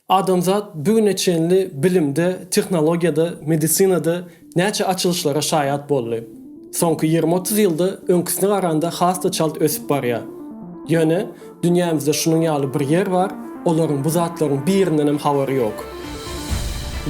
Adamzat bu güne çenli bilimde, tehnologiýada, medisinada näçe açylyşlara şaýat boldy. Soňky ýigrimi-otuz ýylda öňküsine garanda has-da çalt ösüp barýar. Ýöne, dünýämizde şunuň ýaly bir ýer bar, olaryň bu zatlaryň birindenem habary ýok.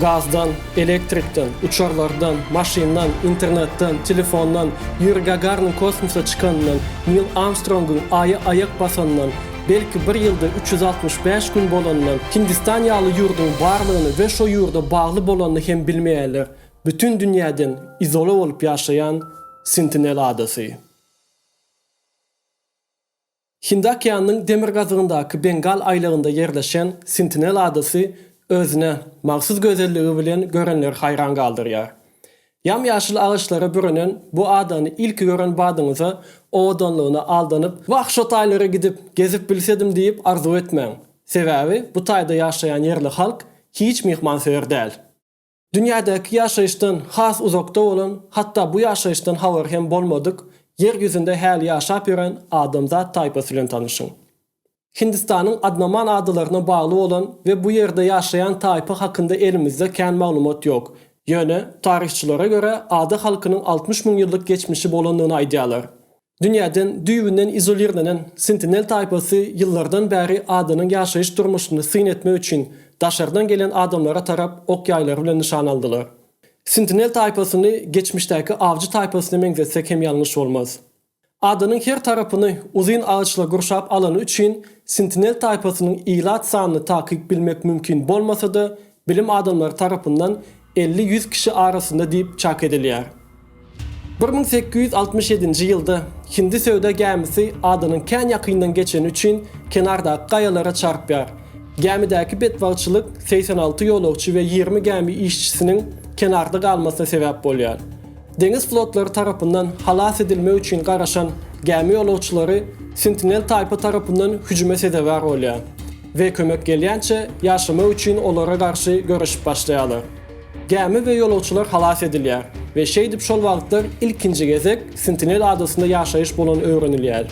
Gazdan, elektrikden, uçarlardan, maşyndan, internetden, telefondan, Ýuri Gagarnyň kosmosa çykanyndan, Nil Armstrongyň Aýa aýak basanyndan, Belki bir ýylda üç ýüz altmyş bäş gün bolanyndan Hindistan ýaly ýurduň barlygyny we şo ýurda bagly bolanyny hem bilmeýärler, bütin dünýäden izola bolup ýaşaýan Sentinel adasy. Hindi okeanynyň demirgazygyndaky Bengal aýlagynda ýerleşen Sentinel adasy özüne mahsus gözelligi bilen görenleri haýran galdyrýar. Ýam-ýaşyl agaçlara bürenen bu adany ilki gören badyňyza owadanlygyna aldanyp, Wah, şo taýlara gidip, gezip bilsedim diýip arzuw etmäň. Sebäbi bu taýda ýaşaýan ýerli halk hiç myhmansöýer däl. Dünýädäki ýaşaýyşdan has uzakda bolan, hatda bu ýaşaýyşdan habary hem bolmadyk, ýer ýüzünde häli ýaşap ýören adamzat taýpasy bilen tanyşyň. Hindistanyň Adnaman adalaryna bagly bolan we bu ýerde ýaşaýan taýpa hakynda elimizde kän maglumat ýok. Ýöne, taryhçylara görä, ada halkynyň altmyş müň ýyllyk geçmişi bolandygyny aýdýarlar. Dünýäden düýbünden izolirlenen Sentinel taýpasy ýyllardan bäri adanyň ýaşaýyş durmuşyny syn etmek üçin daşardan gelen adamlara tarap ok-ýaýlary bilen nyşana aldylar. Sentinel taýpasyny geçmişdäki awjy taýpasyna meňzetsek hem ýalňyş bolmaz. Adanyň her tarapyny uzyn agaçlar gurşap alany üçin Sintinel taýpasynyň ilat sanyny takyk bilmek mümkin bolmasa-da, bilim adamlary tarapyndan elli-ýüz kişi arasynda diýip çak edilýär. Bir müň sekiz ýüz altmyş ýedinji ýylda hindi söwda gämisi adanyň kän ýakyndan geçeni üçin kenardaky gaýalara çarpýar. Gämidäki betbagtçylyk segsen alty ýolagçy we ýigrimi gämi işçisiniň kenarda galmasyna sebäp bolýar. Deňiz flotlary tarapyndan halas edilmek üçin garaşan gämi ýolagçylary Sentinel taýpa tarapyndan hüjüme sezewar bolýar we kömek gelýänçä ýaşamak üçin olara garşy göreşip başlaýarlar. Gämi we ýolagçylar halas edilýär we şeýdip şol wagtlar ilkinji gezek Sentinel adasynda ýaşaýyş bolany öwrenilýär.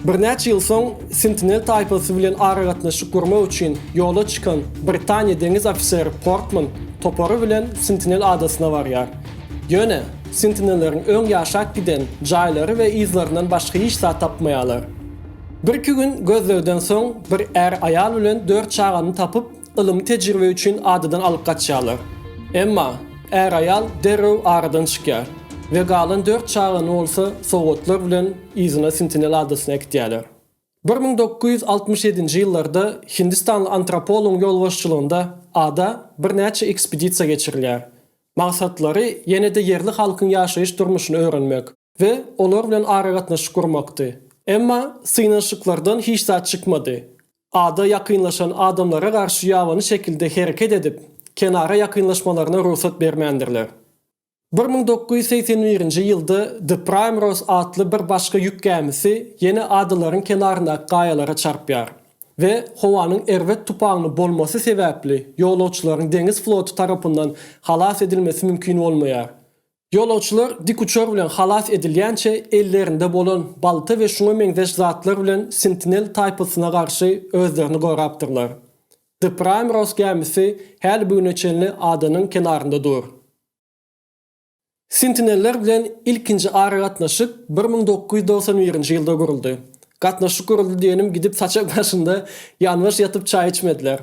Birnäçe ýyl soň Sentinel taýpasy bilen aragatnaşyk gurmak üçin ýola çykan Britaniýa deňiz ofiseri Portman topary bilen Sentinel adasyna barýar. Ýöne, sentinelleriň öň ýaşap giden jaýlary we yzlaryndan başga hiç zat tapmaýarlar. Birki gün gözlegden soň, bir är aýal bilen dört çagany tapyp, ylmy tejribe üçin adadan alyp gaçýarlar. Emma, är-aýal derrew aradan çykýar we galan dört çagany bolsa sowgatlar bilen yzyna Sentinel adasyna äkitýärler. Bir müň dokuz ýüz altmyş ýedinji ýyllarda hindistanly antropologyň ýolbaşçylygynda ada birnäçe ekspedisiýa geçirilýär. Maksatlary ýene-de ýerli halkyň ýaşaýyş-durmuşyny öwrenmek we olar bilen aragatnaşyk gurmakdy. Emma synanyşyklardan hiç zat çykmady. Ada ýakynlaşan adamlara garşy ýabany şekilde hereket edip, kenara ýakynlaşmalaryna rugsat bermändirler. Bir müň dokuz ýüz segsen birinji ýylda The Primrose atly bir başga ýük gämisi ýene adalaryň kenaryndaky gaýalara çarpýar we howanyň erbet tupaňly bolmasy sebäpli ýolagçylaryň deňiz floty tarapyndan halas edilmesi mümkin bolmaýar. Ýolagçylar dikuçar bilen halas edilýänçe ellerinde bolan balta we şuňa meňzeş zatlar bilen Sentinel taýpasyna garşy özlerini gorapdyrlar. The Primrose gämisi häli bu güne çenli adanyň kenarynda dur. Sentineller bilen ilkinji aragatnaşyk bir müň dokuz ýüz togsan birinji ýylda guruldy. Gatnaşyk guruldy diýenim gidip saçak başynda ýanbaş ýatyp çaý içmediler.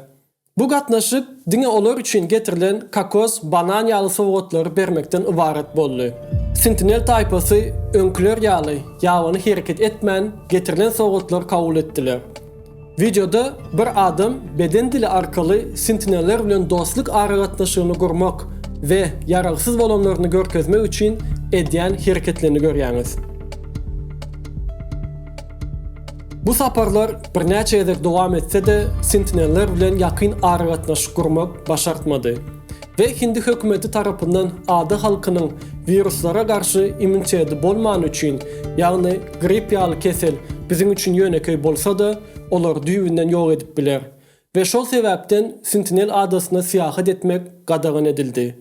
Bu gatnaşyk diňe olar üçin getirilen kokos, banan ýaly sowgatlary bermekden ybarat boldy. Sentinel taýpasy öňküler ýaly ýabany hereket etmän getirilen sowgatlary kabul etdiler. Wideoda bir adam beden dili arkaly sentineller bilen dostluk aragatnaşygyny gurmak we ýaragsyz bolanlaryny görkezmek üçin edýän hereketlerini görýäňiz. Bu saparlar birnäçe gezek dowam etse-de, sentineller bilen ýakyn aragatnaşyk gurmak başartmady. we hindi hökümeti tarapyndan ada halkynyň wiruslara garşy immuniteti bolmany üçin, ýagny gripp ýaly kesel biziň üçin ýönekeý bolsa-da, olary düýbünden ýok edip biler we şol sebäpden Sentinel adasyna syýahat etmek gadagan edildi.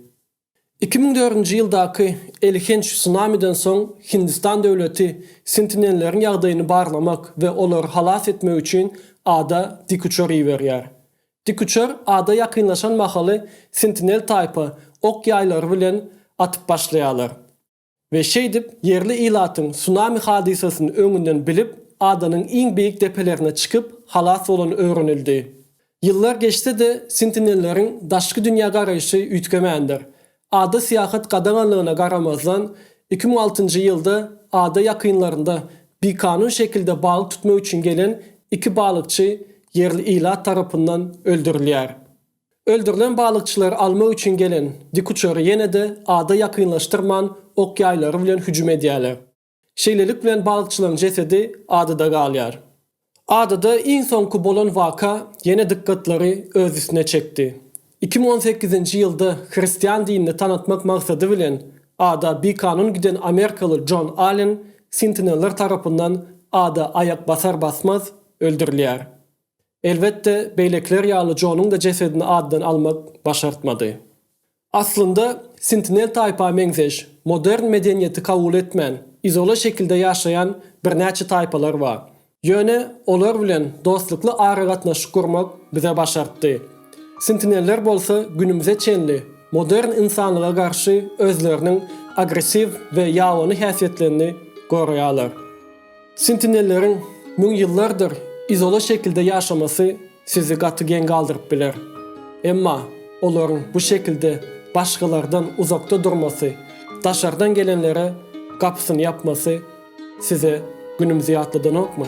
Iki müň dördünji ýyldaky elhenç sunamiden soň Hindistan döwleti sentinelleriň ýagdaýyny barlamak we olary halas etmek üçin ada dikuçar iberýär. Dikuçar ada ýakynlaşan mahaly Sentinel taýpa ok ýaýlary bilen atyp başlaýarlar we şeýdip ýerli ilatyň sunami hadysasyny öňünden bilip adanyň iň beýik depelerine çykyp halas bolany öwrenildi. Ýyllar geçse-de Sentinelleriň daşky dünýä garaýşy üýtgemändir, Ada syýahat gadaganlygyna garamazdan, iki müň altynjy ýylda ada ýakynlarynda bikanun şekilde balyk tutmak üçin gelen iki balykçy ýerli ilat tarapyndan öldürilýär. Öldürilen balykçylary almak üçin gelen dikuçary ýene-de ada ýakynlaşdyrman ok-ýaýlary bilen hüjüm edýärler. Şeýlelik bilen bagçylaň jesedi adada galýar. Adada iň soňky bolan waka ýene dykgatlary öz üstüne çekdi. Iki müň on sekizinji ýylda hristian dinini tanatmak maksady bilen ada bikanun giden amerikaly Jon Allen sintineller tarapyndan ada aýak basar-basmaz öldürilýär. Elbetde, beýlekiler ýaly Jonuň-da jesedini adadan almak başartmady. Aslynda, Sentinel taýpa meňzeş, modern medeniýeti kabul etmän, izola şekilde ýaşaýan birnäçe taýpalar bar. Ýöne olar bilen dostlukly aragatnaşyk gurmak bize başartdy. Sentineller bolsa günümize çenli modern ynsanlyga garşy özleriniň agressiw we ýabany häsiýetlerini goraýarlar. Sentinelleriň müň ýyllardyr izola şekilde ýaşamasy sizi gaty geň galdyryp biler. Emma olaryň bu şekilde başgalardan uzakda durmasy, daşardan gelenlere gapysyny ýapmasy size günümizi ýatladanokmy?